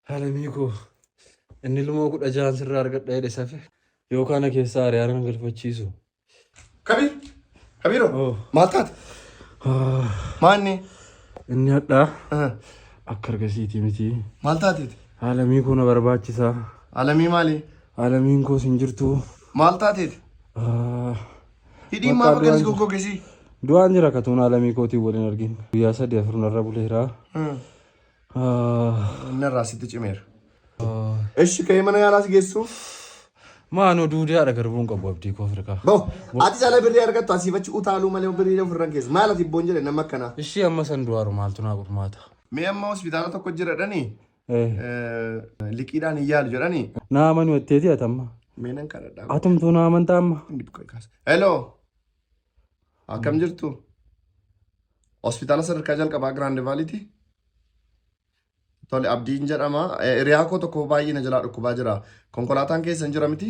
Alamii koo inni ilmoo kudha jahan sirraa argadha jedhe safe yoo kana keessaa ari'aanan galfachiisu. Kabiir. Kabiiroo. Oh. Maal taate? Ah, Maanni. Inni hadhaa Ah, akka argasiitii miti. Maal taateeti? Alamii koo na barbaachisa. Alamii maali? Alamiin koos hin jirtu. Maal taateeti? Ah, Hidhii Maqaa maaf akkanis du'aan- goggogesii? Du'aan jira katuun alamii kootiin waliin argin. Guyyaa sadii afur narra buleera. Ah, Humna irraa sitti cimeera. Eshi ka'ee mana yaalaa si geessu. Maanoo duudee haadha garbuun qabu abdii koo firkaa. Bo ati jala birrii argattu asiif achi utaaluu malee birrii ofirran keessa. Maal ati boon jedhe nama akkanaa. Ishii amma san du'aaru maaltu naa gurmaata. Mee amma hospitaala tokko jiradhani liqiidhaan hin yaalu jedhani. Naa amanuu etteeti atamma. Mee nan kadhadhaa. Atumtuu naa amantaa amma. Hello. Akkam jirtu? Hospitaala sadarkaa jalqabaa Giraand Vaaliiti. Tole abdiin jedhama. Eh, Hiriyaa koo tokko baay'ee na jalaa dhukkubaa jira. Konkolaataan keessan jira miti?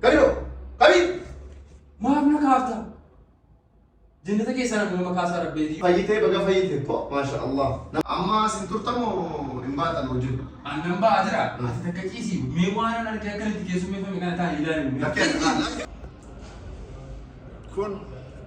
Kabiroo! Kabii! Maaf na kaafta? Jannata keessaa nama maqaa isaa rabbeetii. Fayyitee baga fayyite po maasha Allah. Amma sin turtamoo hin baatan hojii. Aannan ba'aa jira. Ati takka ciisii. Mee waan an argee akkanitti keessummeeffame kana taa'ee ilaalu. Lakkee. Kun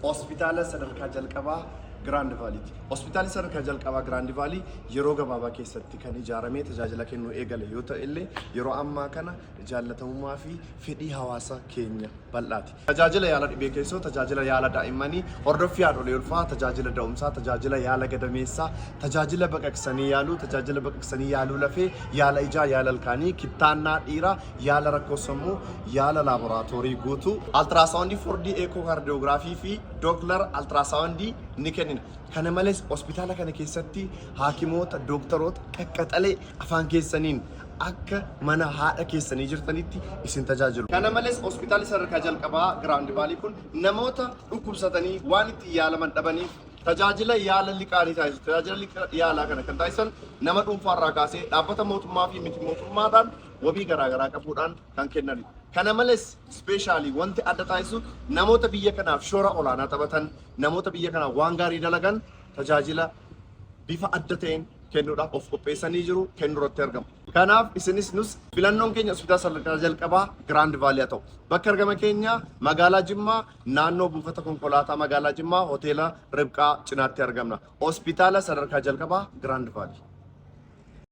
hospitaala sadarkaa jalqabaa Giraand Vaaliiti. Hospitaalli sadarkaa jalqabaa Giraand Vaalii yeroo gabaabaa keessatti kan ijaaramee tajaajila kennuu eegale yoo ta'e illee yeroo ammaa kana jaallatamummaa fi fedhii hawaasa keenya bal'aati. Tajaajila yaala dhibee keessoo, tajaajila yaala daa'immanii, hordoffii haadholii ulfaa, tajaajila da'umsaa, tajaajila yaala gadameessaa, tajaajila baqaqsanii yaaluu, tajaajila baqaqsanii yaaluu lafee, yaala ijaa, yaala ilkaanii, kittaannaa dhiiraa, yaala rakkoo sammuu, yaala laaboraatoorii guutuu, altiraasaawundii 4D eekookaardiyoogiraafii fi dooplar altiraasaawundii ni kennina. Kana malees hospitaala kana keessatti haakimoota, dooktaroota qaqqaxalee afaan keessaniin akka mana haadha keessanii jirtanitti isin tajaajilu. Kana malees hospitaalli sadarkaa jalqabaa Giraawundi Vaalii kun namoota dhukkubsatanii waan ittiin yaalaman dhabaniif tajaajila yaala liqaa ni taasisu. Tajaajila liqaa yaalaa kana kan taasisan nama dhuunfaarraa kaasee dhaabbata mootummaa fi miti mootummaadhaan wabii garaa garaa qabuudhaan kan kennanidha. Kana males specially wanti adda taasisu namoota biyya kanaaf shoora olaanaa taphatan, namoota biyya kanaaf waan gaarii dalagan tajaajila bifa adda ta'een kennuudhaaf of qopheessanii jiru, kennuurratti argamu. Kanaaf isinis nus filannoon keenya hospitaala sadarkaa jalqabaa Giraand Vaalii haa ta'u. Bakki argama keenya magaalaa Jimmaa naannoo buufata konkolaataa magaalaa Jimmaa hoteela Ribqaa cinaatti argamna. Hospitaala sadarkaa jalqabaa Giraand Vaalii.